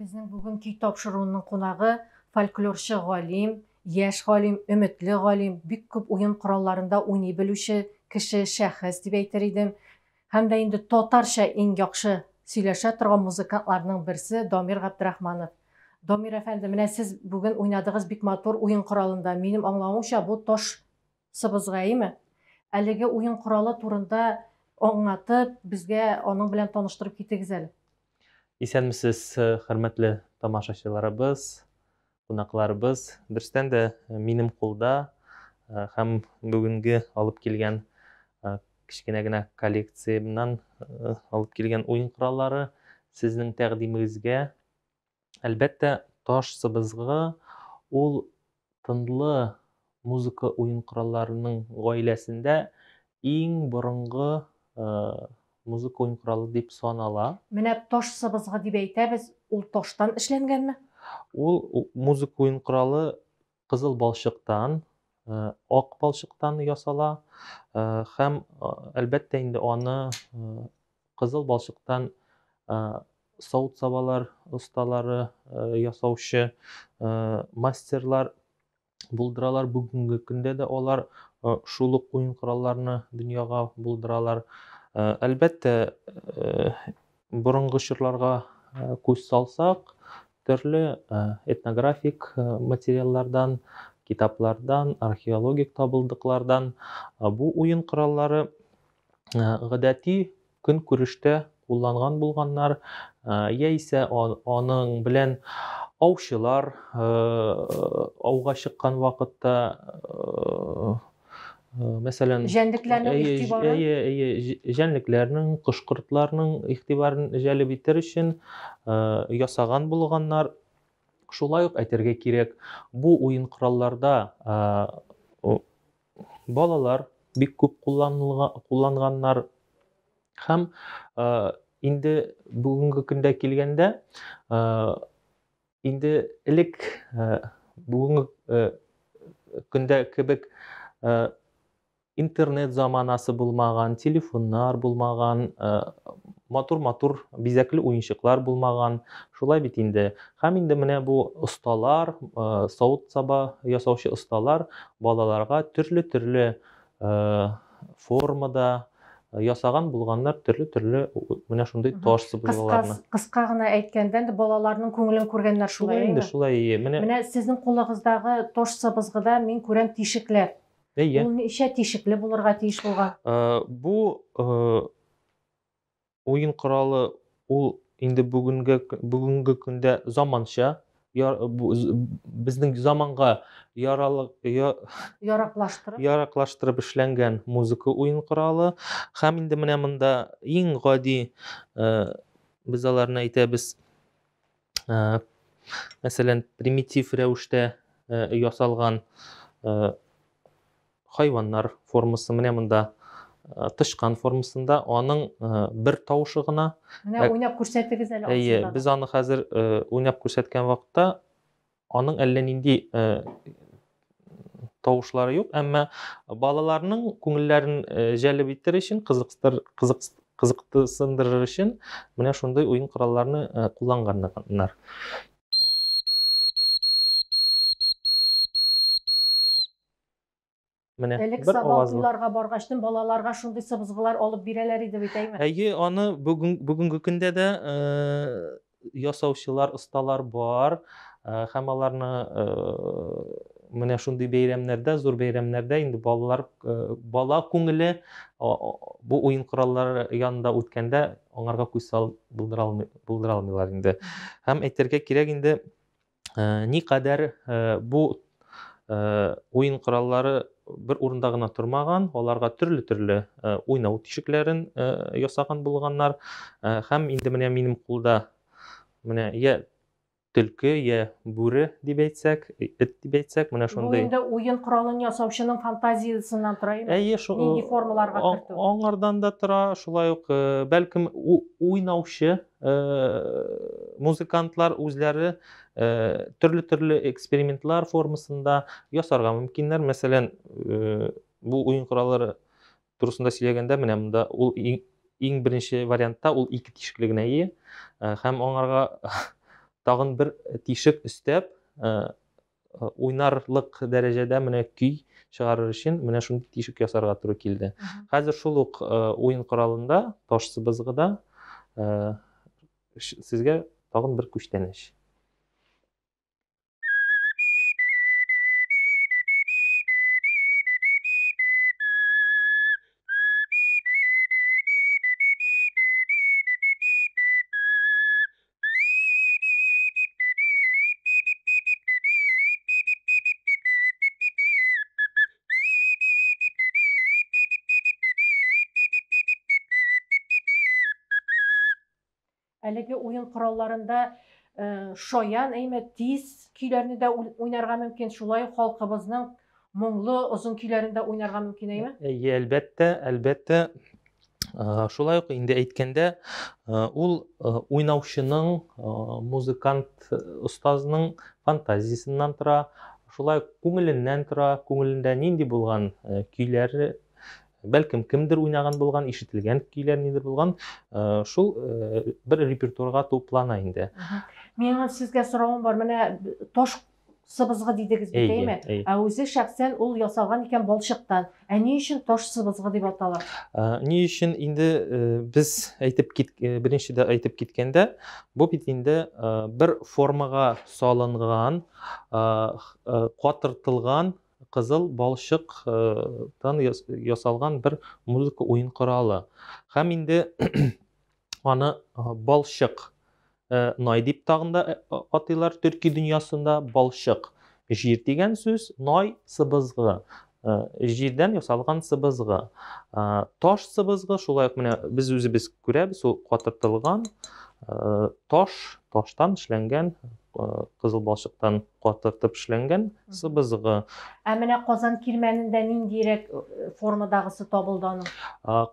Безнең бүгенки тапшыруның кунагы, фольклорчы галим, яшь галим, өметле галим, бик күп уен коралларында уйный белүче кеше, шәхес дип әйтер идем. Һәм дә инде татарча иң яхшы сөйләшә торган музыкантларның берсе Дамир Габдрахманов. Дамир әфәнде, менә сез бүген уйнадыгыз бик матур уен коралында. Минем аңлавымча, бу таш Сыбызгаеме? Әлеге уен коралы турында аңлатып, безгә аның белән таныштырып китегез әле. Исәнмесез, хөрмәтле тамашачыларыбыз, кунакларыбыз. Дөрестән дә минем кулда һәм бүгенге алып килгән кечкенә генә коллекциямнан алып килгән уен кораллары сезнең тәкъдимегезгә Әлбәттә, таш сыбызгы ул тынлы музыка уен коралларының гаиләсендә иң борынгы музыка уен коралы дип санала. Менә таш сыбызгы дип әйтәбез, ул таштан эшләнгәнме? Ул музыка уен коралы кызыл балчыктан, ак балчыктан ясала һәм әлбәттә инде аны кызыл балчыктан савыт сабалар осталары ясаучы мастерлар булдыралар бүгенге көндә дә алар шул ук уен коралларны дөньяга булдыралар әлбәттә Борынгы чорларга күз салсак, төрле этнографик материаллардан, китаплардан, археологик табылдыклардан бу уен кораллары гадәти көнкүрештә кулланган булганнар, яисә аның белән аучылар ауга чыккан вакытта мәсәлән җәнлекләрнең игътибарын әйе әйе җәнлекләрнең кош кортларның игътибарын җәлеп итәр өчен ясаган булганнар шулай ук әйтергә кирәк бу уен коралларда балалар бик күп кулланганнар һәм инде бүгенге көндә килгәндә Инде элек бүгенге көндә кебек интернет заманасы булмаган, телефоннар булмаган, матур-матур бизәкле уенчыклар булмаган. Шулай бит инде. Һәм инде менә бу осталар, савыт-саба ясаучы осталар балаларга төрле-төрле формада ясаган булганнар төрле-төрле менә шундый таш сыбызгыларны. Кыска гына әйткәндә, балаларның күңелен күргәннәр шулай. Инде шулай. Менә Менә сезнең кулыгыздагы таш сыбызгыда мин күрәм тишекләр. Әйе. Ул ничә тишекле булырга тиеш булган? Бу уен коралы ул инде бүгенге бүгенге көндә заманча безнең заманга яралык яраклаштырып яраклаштырып эшләнгән музыка уен коралы һәм инде менә монда иң гади без аларны әйтәбез мәсәлән примитив рәвештә ясалган хайваннар формасы менә монда тычкан формасында аның бер тавышы гына менә уйнап күрсәтегез әле әйе без аны хәзер уйнап күрсәткән вакытта Аның әллә нинди э, тавышлары юк, әмма балаларның күңелләрен э, җәлеп итер өчен, кызыксытыр, кызык, кызыктысындырыр өчен менә шундый уен коралларны э, кулланганнар. Менә Элек бер сабан авазлы. туйларга баргачтын балаларга шундый сыбызгылар алып бирәләр иде бит, әйме? Әйе, аны бүген бүгенге көндә дә э, ясаучылар, осталар бар э, һәм аларны э, менә шундый бәйрәмнәрдә, зур бәйрәмнәрдә инде балалар э, бала күңеле о- о- бу уен кораллары янында үткәндә аңарга күз салып булдыра алмый- булдыра алмыйлар инде. Һәм әйтергә кирәк инде Э, никадәр э, бу э, уен кораллары бер урында гына тормаган, аларга төрле төрле уйнау тишекләрен ясаган булганнар. Һәм инде менә минем кулда менә я төлке, я бүре дип әйтсәк, эт дип әйтсәк, менә шундый. Бу инде уен коралын ясаучының фантазиясеннән тора инде. Әйе, шул. Нинди формаларга кертү? Аңардан да тора, шулай ук бәлкем уйнаучы музыкантлар үзләре төрле-төрле экспериментлар формасында ясарга мөмкиннәр. Мәсәлән, бу уен кораллары турысында сөйләгәндә, менә монда ул иң беренче вариантта ул ике тишекле генә ие, һәм аңарга тагын бер тишек өстәп, Э, уйнарлык дәрәҗәдә менә көй чыгарыр өчен менә шундый тишек ясарга туры килде хәзер шул ук э, уен коралында таш сыбызгыда э, сезгә тагын бер күчтәнәч Әлеге уен коралларында э, шаян әйме тиз көйләрне дә уй- уйнарга мөмкин. Шулай ук халкыбызның Моңлы, озын көйләрен дә уйнарга мөмкин, әйме? Әйе, әлбәттә, әлбәттә. Шулай ук инде әйткәндә, ул уйнаучының, музыкант остазының фантазиясеннән тора, шулай ук күңеленнән тора, күңелендә нинди булган көйләр бәлкем кемдер уйнаган булган ишетелгән көйләр нидер булган э, шул э, бер репертуарга туплана инде миңа сезгә соравым бар менә таш сыбызгы дидегез бит, әйме? Ә үзе шәхсән ул ясалган икән балчыктан. Ә ни өчен таш сыбызгы дип атала? Ни өчен инде э, без әйтеп кит э, беренче дә әйтеп киткәндә, бу бит инде э, бер формага салынган, катыртылган кызыл балчыктан ясалган бер музыка уен коралы. Һәм инде аны балчык най дип тагын да атыйлар төрки дөньясында балчык җир дигән сүз най сыбызгы җирдән ясалган сыбызгы таш сыбызгы шулай ук менә без үзебез күрәбез ул катыртылган таш таштан эшләнгән кызыл балчыктан катыртып эшләнгән сыбызгы. Ә менә Казан кирмәнендә ниндирәк э, формадагысы табылды аның?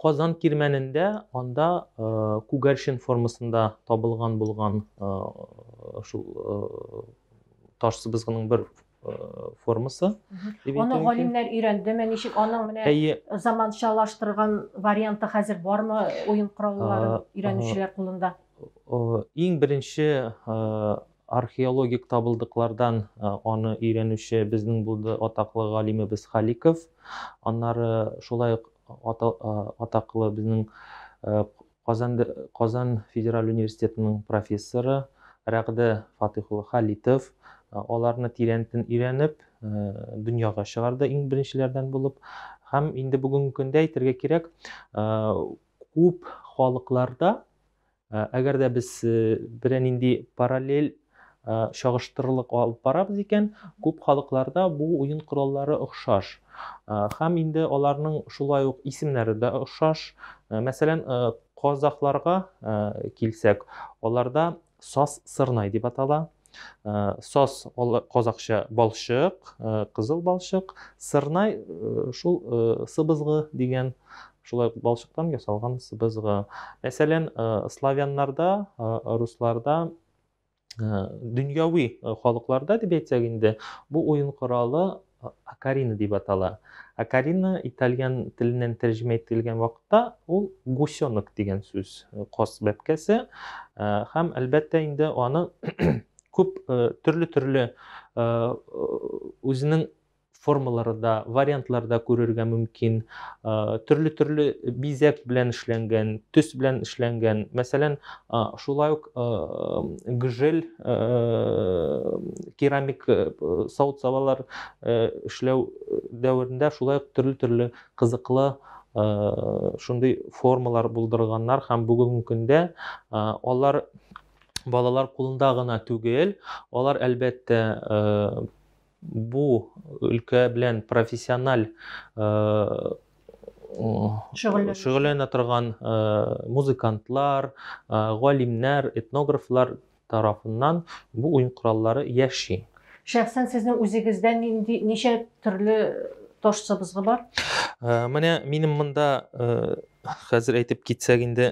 Казан кирмәнендә анда э, күгәрчен формасында табылган булган э, шул таш сыбызгының бер формасы. Аны галимнәр өйрәндеме, ничек аның менә заманчалаштырган варианты хәзер бармы уен кораллары өйрәнүчеләр кулында? Иң беренче Археологик табылдыклардан аны өйрәнүче безнең булды атаклы галимебез Халиков. Аннары шулай ук атаклы безнең Казан Казан федераль университетының профессоры Рәгъдә Фатыйх улы Халитов аларны тирәнтен өйрәнеп дөньяга чыгарды иң беренчеләрдән булып. Һәм инде бүгенге көндә әйтергә кирәк, күп халыкларда Әгәр дә без берәр нинди параллель чагыштырырлык алып барабыз икән, күп халыкларда бу уен кораллары охшаш. Һәм инде аларның шулай ук исемнәре дә охшаш. Мәсәлән, казахларга килсәк, аларда сас сырнай дип атала. Э, сос казакча балчык э, кызыл балчык сырнай э, шул сыбызгы дигән шулай балчыктан ясалган сыбызгы мәсәлән славяннарда русларда дөньяви халыкларда дип әйтсәк инде бу уен коралы Акарина дип атала. Акарина итальян теленнән тәрҗемә ителгән вакытта ул гусенок дигән сүз, каз бәбкәсе. Һәм әлбәттә инде аны күп төрле-төрле үзенең формалары да, вариантлары да күрергә мөмкин. Төрле-төрле бизәк белән эшләнгән, төс белән эшләнгән. Мәсәлән, Шулай ук гжель керамик савыт-сабалар эшләү дәверендә шулай ук төрле-төрле кызыклы шундый формалар булдырганнар һәм бүгенге көндә алар балалар кулында гына түгел, алар әлбәттә Бу өлкә белән профессиональ шөгыльләнә торган музыкантлар, галимнәр, этнографлар тарафыннан бу уен кораллары яши. Шәхсән сезнең үзегездә нинди ничә төрле таш сыбызгы бар? Менә минем монда хәзер әйтеп китсәк инде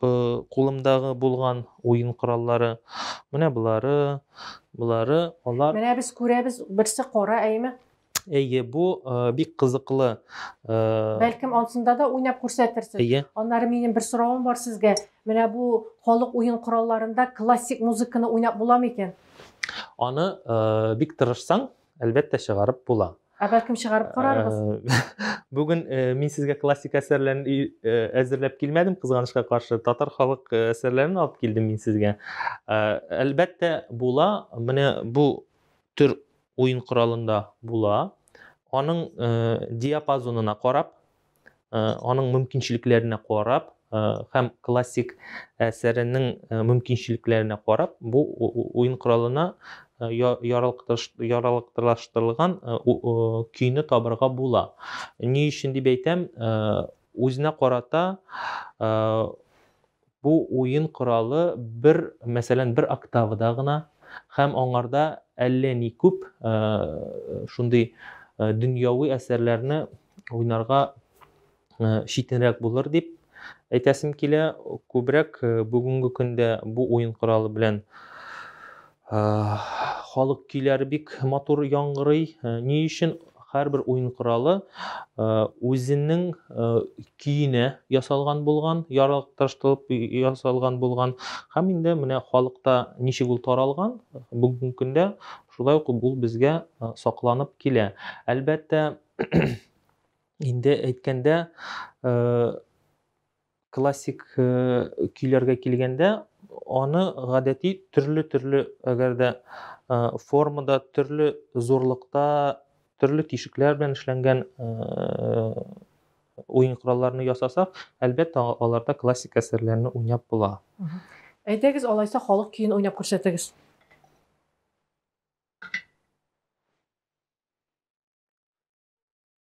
кулымдагы булган уен кораллары. Менә болары, болары, алар... Менә без күрәбез, берсе кара, әйме? Әйе, бу бик кызыклы. Бәлкем ансында да уйнап күрсәтерсез. Әйе. Аннары минем бер соравым бар сезгә. Менә бу халык уен коралларында классик музыканы уйнап буламы икән? Аны бик тырышсаң, Әлбәттә, чыгарып була. Ә бәлкем чыгарып карарбыз? Э, бүген э, мин сезгә классик әсәрләрен э, әзерләп килмәдем, кызганычка каршы. Татар халык әсәрләрен алып килдем мин сезгә. Әлбәттә, була. Менә бу төр уен коралында була. Аның диапазонына карап, аның мөмкинчелекләренә карап һәм классик әсәренең мөмкинчелекләренә карап бу уен коралына яралыктыраштырылган көйне табырга була. Ни өчен дип әйтәм, үзенә карата Бу уен коралы бер, мәсәлән, бер октавада гына һәм аңарда әллә ни күп шундый дөньяви әсәрләрне уйнарга читенрәк булыр дип әйтәсем килә. Күбрәк бүгенге көндә бу уен коралы белән Халык көйләре бик матур яңгырый. Ни өчен һәрбер уен коралы үзенең көенә ясалган булган, ярыкташтырып ясалган булган. Һәм инде менә халыкта ничек ул таралган, бүгенге көндә шулай ук ул безгә сакланып килә. Әлбәттә, инде әйткәндә, Классик көйләргә килгәндә, аны гадәти төрле-төрле, әгәр дә формада, төрле зурлыкта, төрле тишекләр белән эшләнгән уен коралларны ясасак, әлбәттә, аларда классик әсәрләрне уйнап була. Әйдәгез, алайса халык көен уйнап күрсәтегез.